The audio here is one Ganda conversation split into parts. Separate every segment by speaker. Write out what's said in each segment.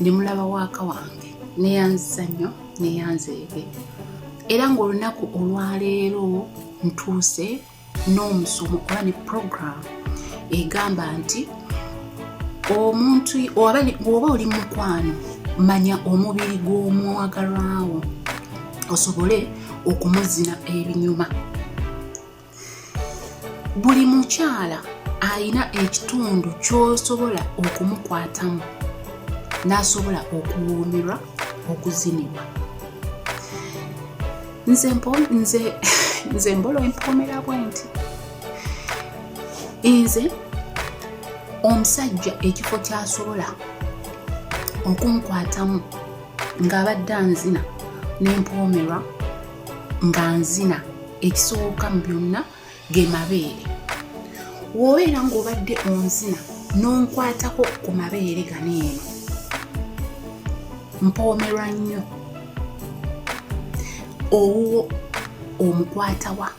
Speaker 1: ndi mulaba waaka wange neyanziza nnyo neyanzeege era ng'olunaku olwaleero ntuuse n'omusomo oba ne program egamba nti omuntu oba oli mukwano manya omubiri gw'omwagalwawo osobole okumuzina ebinyuma buli mukyala alina ekitundu kyosobola okumukwatamu n'asobola okuwuumirwa okuzinibwa nze nze nze mbolo empoomera bwe nti nze omusajja ekifo kyasobola okunkwatamu ng'abadde anzina nempoomerwa nga nzina ekisooka mu byonna ge mabeere wobeera ng'obadde onzina n'onkwatako ku mabeere gano eno mpoomerwa nnyo owuwo omukwatawa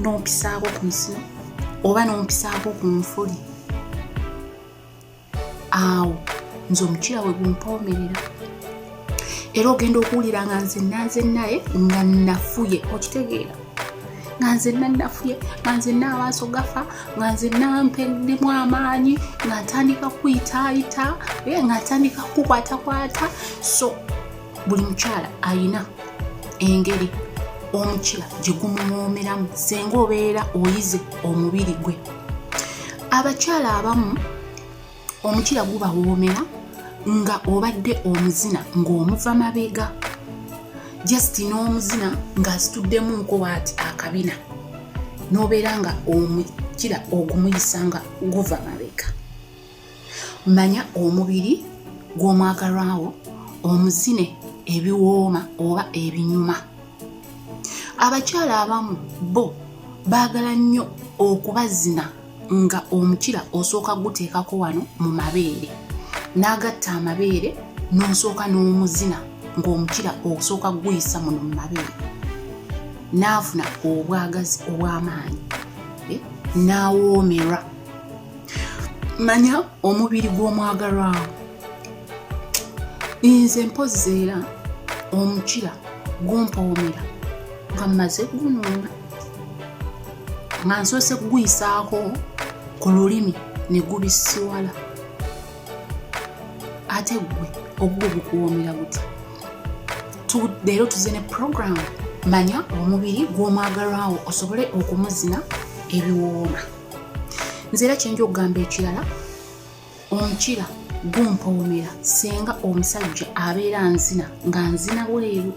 Speaker 1: n'ompisaako ku nsino oba n'ompisaako ku nfuli awo nze omukira we gumpoomerera era ogenda okuwulira nga nze nanze naye nga nafuye okitegeera nga nze nanafuye nga nze naamaaso gafa nga nze nampeddemu amaanyi nga ntandika kuyitaayita nga ntandika kukwatakwata so buli mukyala ayina engeri omukira gye gumuwoomeramu senga obeera oyize omubiri gwe abakyala abamu omukira gubawoomera nga obadde omuzina ng'omuva mabega just n'omuzina ng'asituddemunko waati akabina n'obeera nga omukira ogumuyisa nga guva mabega manya omubiri gw'omwagalwawo omuzine ebiwooma oba ebinyuma abakyala abamu bo baagala nnyo okubazina nga omukira osooka guteekako wano mu mabeere n'agatta amabeere n'osooka n'omuzina ng'omukira osooka guyisa muno mu mabeere n'afuna obwagazi obw'amaanyi eh, n'awoomerwa manya omubiri gw'omwagalwawo nze mpozzi era omukira gumpawomera nga mmaze gunuuna nga nsoose kuguyisaako ku lulimi ne gubisiwala ate gwe ogwo gukuwoomera gutya leero tuze ne puroguramu manya omubiri gw'omwagalwawo osobole okumuzina ebiwooma nze era kyenja okugamba ekirala omukira gumpoomera singa omusajja abeera nzina nga nzina bweru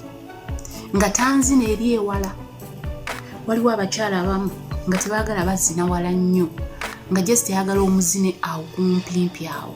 Speaker 1: nga tanzina eri ewala waliwo abakyala abamu nga tebaagala bazina wala nnyo nga jesiteyagala omuzine awo kumpimpi awo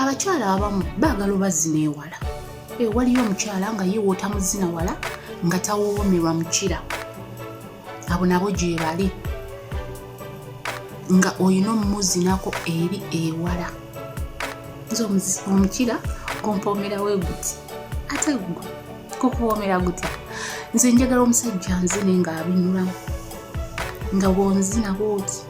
Speaker 1: abakyala abamu baagala obazina ewala ewaliyo omukyala nga ye wootamuzina wala nga tawoowomerwa mukira abo nabo gyebali nga olina omumuzinako eri ewala nze omukira gompoomerawo eguti ate gwe kukuwoomera gutya nze njagala omusajja nzine ng'abinulamu nga bwonzina bwoti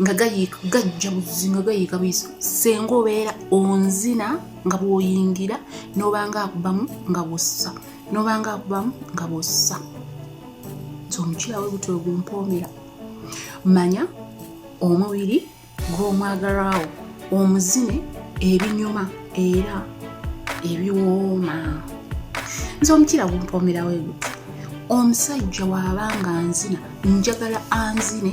Speaker 1: nga gayiika gajja buzi nga gayiika buyizi senga obeera onzina nga bwoyingira nobanga akubamu nga bwossa nobanga akubamu nga bwossa nti omukyala we buti ogumpomera manya omubiri gw'omwagalwawo omuzine ebinyuma era ebiwooma nze omukira gumpomerawo eguti omusajja waaba nga nzina njagala anzine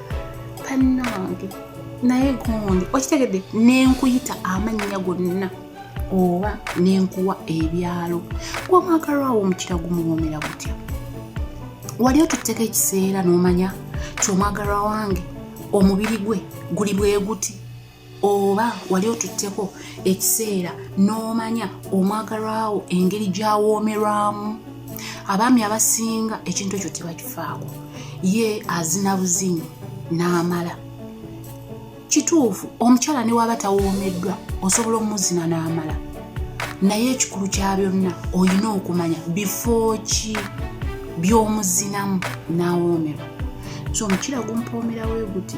Speaker 1: bannange naye gundi okitegedde nenkuyita amannya gonna oba nenkuwa ebyalo gwamwagalwawo omukira gumuwoomera gutya wali otutteko ekiseera n'omanya kyomwagalwa wange omubiri gwe guli bwe guti oba wali otutteko ekiseera n'omanya omwagalwawo engeri gyawoomerwamu abaami abasinga ekintu ekyo tebakifaako ye azina buzinyi n'amala kituufu omukyala ne waaba tawoomeddwa osobola omuzina n'amala naye ekikulu kya byonna olina okumanya bifo ki by'omuzinamu n'awoomerwa so omukira gumpoomerawo eguti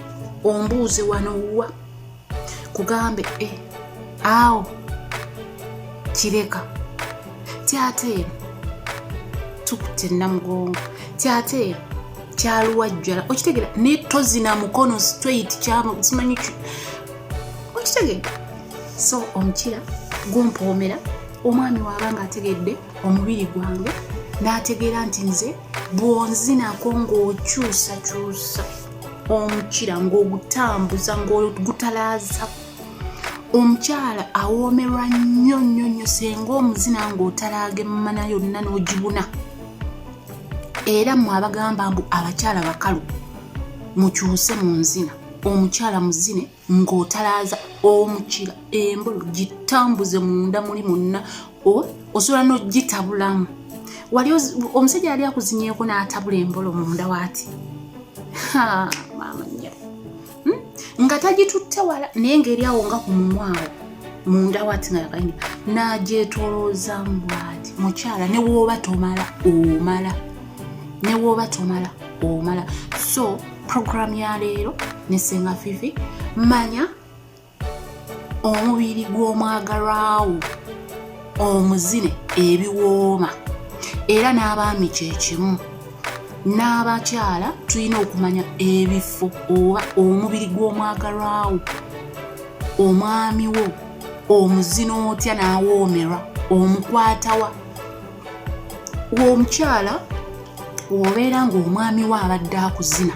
Speaker 1: ombuuze wano wa kugambe e eh, awo kireka ti ate eno tukutte namugongo ti ate eno kyaluwajjala okitegera naye tozina mukono straight simanyi okitegedde so omukira gumpoomera omwami waaba nga ategedde omubiri gwange n'ategeera nti nze bwonzinako ng'okyusakyusa omukira ng'ogutambuza ng'ogutalaaza omukyala awoomerwa nnyo nnyo nnyo senga omuzina ng'otalaaga emmana yonna n'ogibuna era mwe abagamba mbu abakyala bakalu mukyuse mu nzina omukyala muzine ng'otalaaza omukira embolo gitambuze munda muli munna osobola n'ogitabulamu wali omusajja yali akuzinyeeko n'atabula embolo munda waati maamanya hmm? nga tagitutte wala naye ng'eri awo nga ku mumwawo munda waati nga yakaini n'agyetolooza mbwati mukyala ne wooba tomala omala ne wooba tomala omala so program ya leero ne senga fifi manya omubiri gw'omwagalwawo omuzine ebiwooma era n'abaami kyekimu n'abakyala tulina okumanya ebifo oba omubiri gw'omwagalwawo omwami wo omuzina otya n'awoomerwa omukwatawa omukyala obeera ng'omwami we abadde akuzina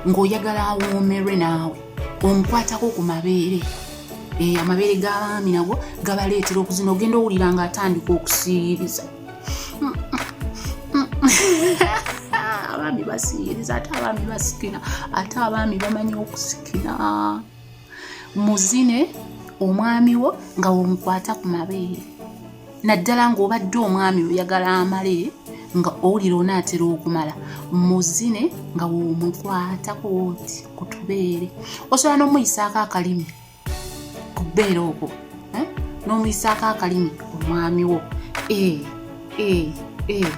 Speaker 1: ng'oyagala awoomerwe naawe omukwatako ku mabeere eh, amabeere g'abaami nago gabaleetera okuzina ogenda owulira ng'atandika okusiiriza abaami basiiriza ate abaami basikina ate abaami bamanyi okusikina muzine omwami wo nga womukwata ku mabeere naddala ng'obadde omwami oyagala amale nga owulira onaatera okumala muzine nga womukwatako oti ku tubeere osobola n'omuyisaako akalimi ku bbeere okwo eh? n'omuyisaako akalimi omwami wo eh, eh,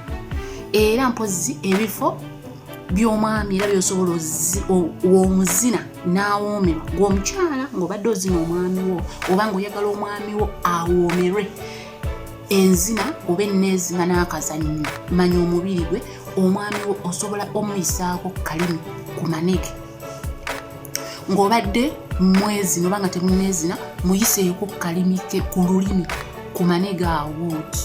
Speaker 1: era mpozzi ebifo by'omwami era byosobola omuzina n'awoomerwa ng'omukyala ng'obadde ozina omwami wo oba ng'oyagala omwami wo awoomerwe enzina oba enneezima n'akazannyo manya omubiri gwe omwami wo osobola omuyisaako kalimu ku manege ng'obadde mwezina oba nga temuneezina muyiseeko kalimike ku lulimi ku manege awooti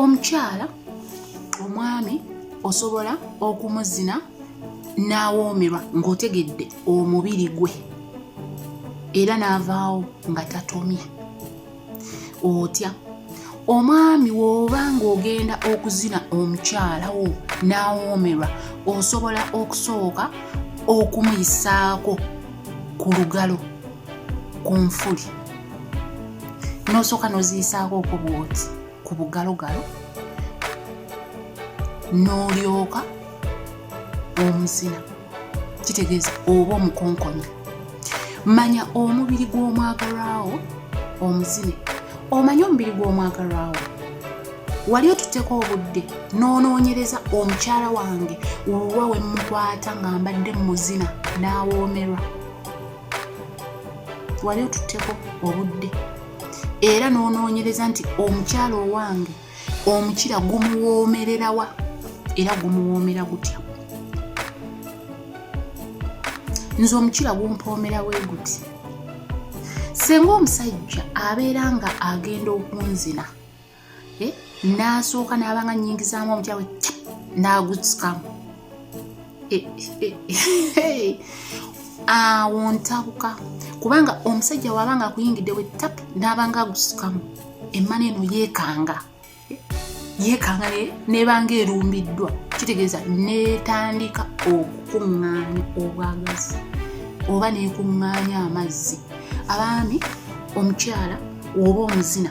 Speaker 1: omukyala omwami osobola okumuzina n'awoomerwa ng'otegedde omubiri gwe era n'avaawo nga tatomye otya omwami woba ng'ogenda okuzina omukyala wo n'awoomerwa osobola okusooka okumuyisaako ku lugalo ku nfuli n'osooka n'oziyisaako oku bwoti ku bugalogalo n'olyoka omusina kitegeeza oba omukonkonya manya omubiri gw'omwagalwawo omuzine omanye omubiri gw'omwagalwawo wali otutteko obudde n'onoonyereza omukyala wange wuwa we mmukwata nga mbadde muzina n'awoomerwa wali otutteko obudde era n'onoonyereza nti omukyala owange omukira gumuwoomererawa era gumuwoomera gutya nze omukira gumpoomera we guti singa omusajja abeera nga agenda okunzina eh, n'asooka n'abanga nyingizaamu omutyawe n'agutsikamu eh, eh, awo ntabuka kubanga omusajja waabanga akuyingidde we tap n'abanga agusikamu emmana eno yeekanga yeekanga nebanga erumbiddwa kitegeeza netandika okukuŋŋaanya obwagazi oba nekuŋŋaanya amazzi abaami omukyala oba omuzina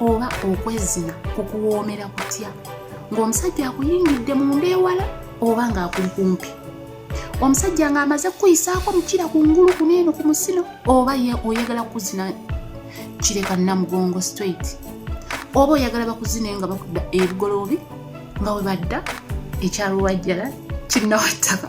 Speaker 1: oba okwezina kukuwoomera kutya ng'omusajja akuyingidde mu nda ewala oba ng'akuli kumpi omusajja ng'amaze kukuyisaako mukira ku ngulu ku neeno ku musino oba ye oyagala kukuzina kireka namugongo straight oba oyagala bakuzine nga bakudda ebigoloobi nga webadda ekyalwajjala kinnawattaka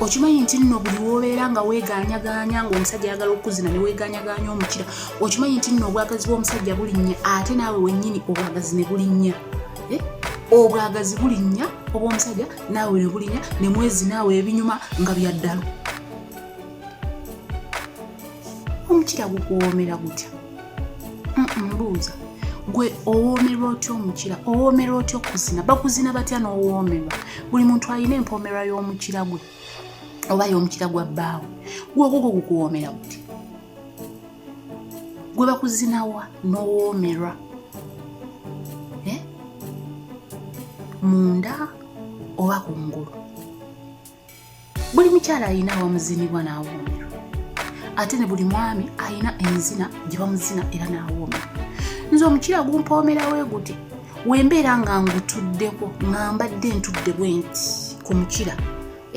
Speaker 1: okimanyi nti nno buli wobeera nga weeganyagaanya ngaomusajja ayagala okukuzina ne weeganyagaanya omukira okimanyi nti nno obwagazi bw'omusajja bulinnya ate naawe wennyini obwagazi ne bulinnya eh? obwagazi bulinnya obw'omusajja naawe ne bulinnya ne mwezi naawe ebinyuma nga byaddalo omukira gukuwoomera gutya mbuuza gwe owoomerwa otya omukira owoomerwa otya okuzina bakuzina batya n'owoomerwa buli muntu alina empoomerwa y'omukira gwe oba y'omukira gwa bbaawe gwogwo gwe gukuwoomera buti gwe bakuzinawa n'owoomerwa eh? munda oba ku ngulu buli mukyala alina awamuzinibwa n'awoomerwa ate ne buli mwami alina enzina gye bamuzina era n'awoomera nze omukyala gumpoomerawo eguti wembeera nga ngutuddeko nga mbadde ntudde bwe nti ku mukira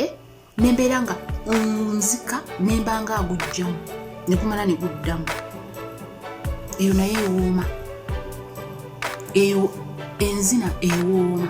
Speaker 1: eh? nembeera nga nzika nemba nga agujjamu nekumala neguddamu eyo naye ewooma eyo enzina ewooma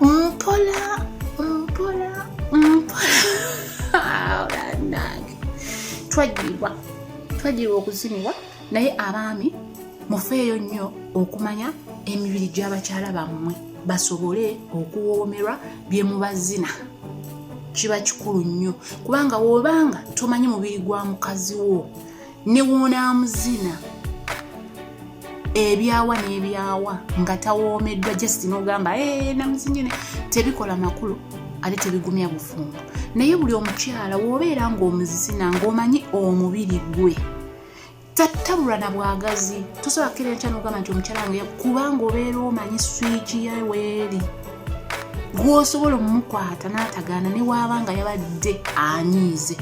Speaker 1: Mpola mpola mpola nange twajjirwa twajjirwa okuzinibwa naye abaami mufeeyo nnyo okumanya emibiri gy'abakyala bammwe basobole okuwoomerwa bye mubazina kiba kikulu nnyo kubanga wobanga tomanyi mubiri gwa mukazi wo ne wonaamuzina ebyawa n'ebyawa nga tawoomeddwa just n'ogamba eh, namuzinyine tebikola makulu ate tebigumya bufumbo naye buli omukyala wobeera ng'omuzina ng'omanyi omubiri gwe tattabulwa na bwagazi tosobola kukira enkya nogamba nti omukyala wange kubanga obeera omanyi swiki ye weeri gwosobola omumukwata n'atagaana newaaba nga yabadde anyiize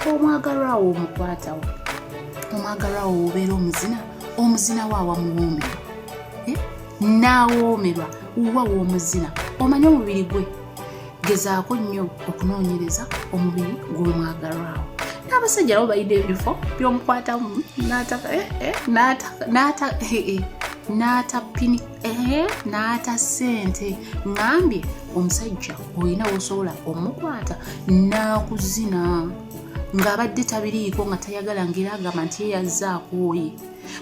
Speaker 1: omwagalwa wo omukwatawo omwagalwa wo obeera omuzina omuzina wo awamuwoomerwa eh? n'awoomerwa wa w'omuzina omanye omubiri gwe gezaako nnyo okunoonyereza omubiri gw'omwagalwawo n'abasajja nabo balina ebifo byomukwatamu n'atapini eh, eh, ehe n'ata ssente ngambye omusajja olina wosobola omukwata n'akuzina ng'abadde tabiriiko nga tayagala ngeri agamba nti ye yazze akooye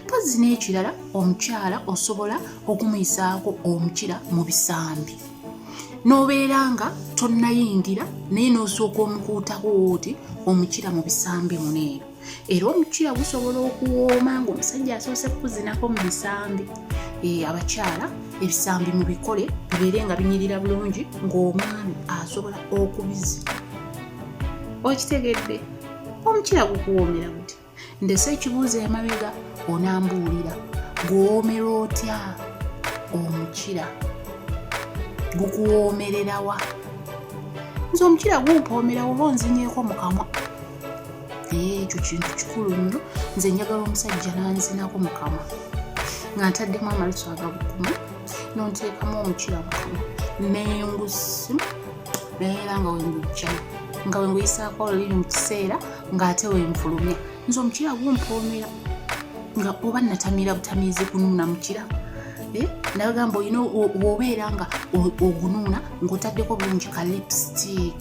Speaker 1: mpozzi n'ekirala omukyala osobola okumuyisaako omukira mu bisambi n'obeera nga tonnayingira naye n'osooka omukuutako oti omukira mu bisambi muneero era omucuya gusobola okuwooma ng'omusajja asoose kukuzinako mu bisambi eh, abakyala ebisambi mu bikole bibeere nga binyirira bulungi ng'omwami asobola okubizina okitegedde omucuya gukuwoomera buti ndese ekibuuzo emabega onambuulira guwoomera otya omukira gukuwoomererawa nze omukira gumpoomerawo oba onzinyeeko mukamwa ekyo kintu kikulu nnyo nze njagala omusajja nanzinako mukama nga ntaddemu amalusu agabukuma nonteekamu omukira bukama nengusi nayeera nga wengujjamu nga wenguyisaako olulimi mu kiseera ng'ate wenfulumya nze omukira gumpoomera nga oba natamira butamiizi kunuuna mukira eh, nagamba olina obeera nga ogunuuna ng'otaddeko bulungi ka lipstick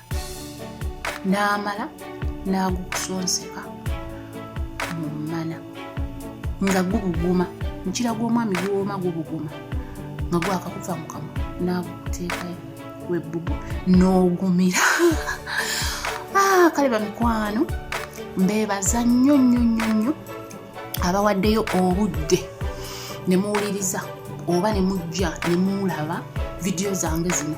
Speaker 1: n'amala n'agukusonseka mu mmana nga gubuguma mukira gw'omwami guwooma gubuguma nga gwakakuva mu kamwa n'agukuteekayo webbubu n'ogumira ah, kale bamikwano mbeebaza nnyo nnyo nnyo nnyo abawaddeyo obudde ne muwuliriza oba ne mujja ne muulaba vidiyo zange zino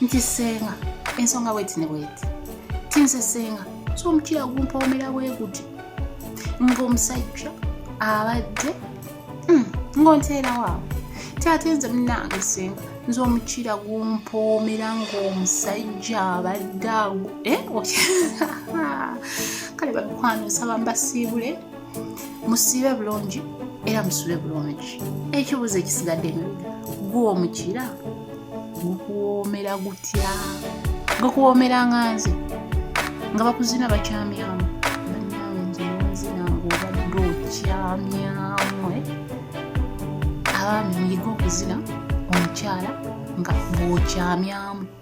Speaker 1: nti senga ensonga bweti ne bweti tinze senga so omukiira gumpomera bweguti ngaomusajja abadde hmm, ngaonteerawaawo tate nze munange senga nze omukiira gumpoomera ngaomusajja abadde agu eh, kale bamikwano nsaba mbasiibule musiibe bulungi era musule bulungi ekibuuzo ekisigadde mu gwe omukira gukuwoomera gutya gukuwoomera nga nze nga bakuzina bakyamyamu banawe nze nzina ngaobadde okyamyamu eh? abaami muyige okuzina omukyala nga bwokyamyamu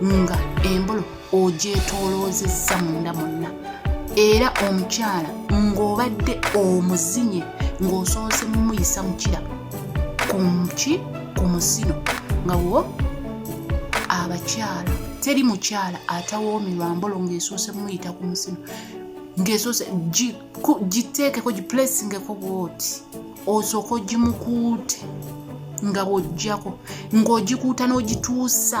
Speaker 1: nga embolo ogyetooloozezza munda monna era omukyala ng'obadde omuzinye ng'osoose mumuyisa mukira kuki ku musino nga wo abakyala teri mukyala atawoomerwa mbolo ng'esoose mumuyita ku musino ng'esoose giteekeko giplesingeko bwoti osooka ogimukuute nga bw'ojjako ng'ogikuuta n'ogituusa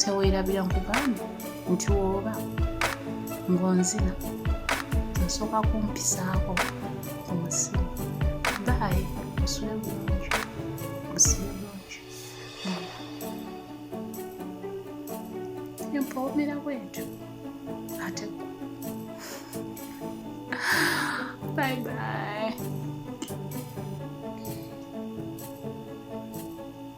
Speaker 1: teweerabira nkugambye nti woba ng'onzina nsooka kumpisaako ku musimu baayi osule bulungi osule bulungi empoomera bwentyo ate bye bye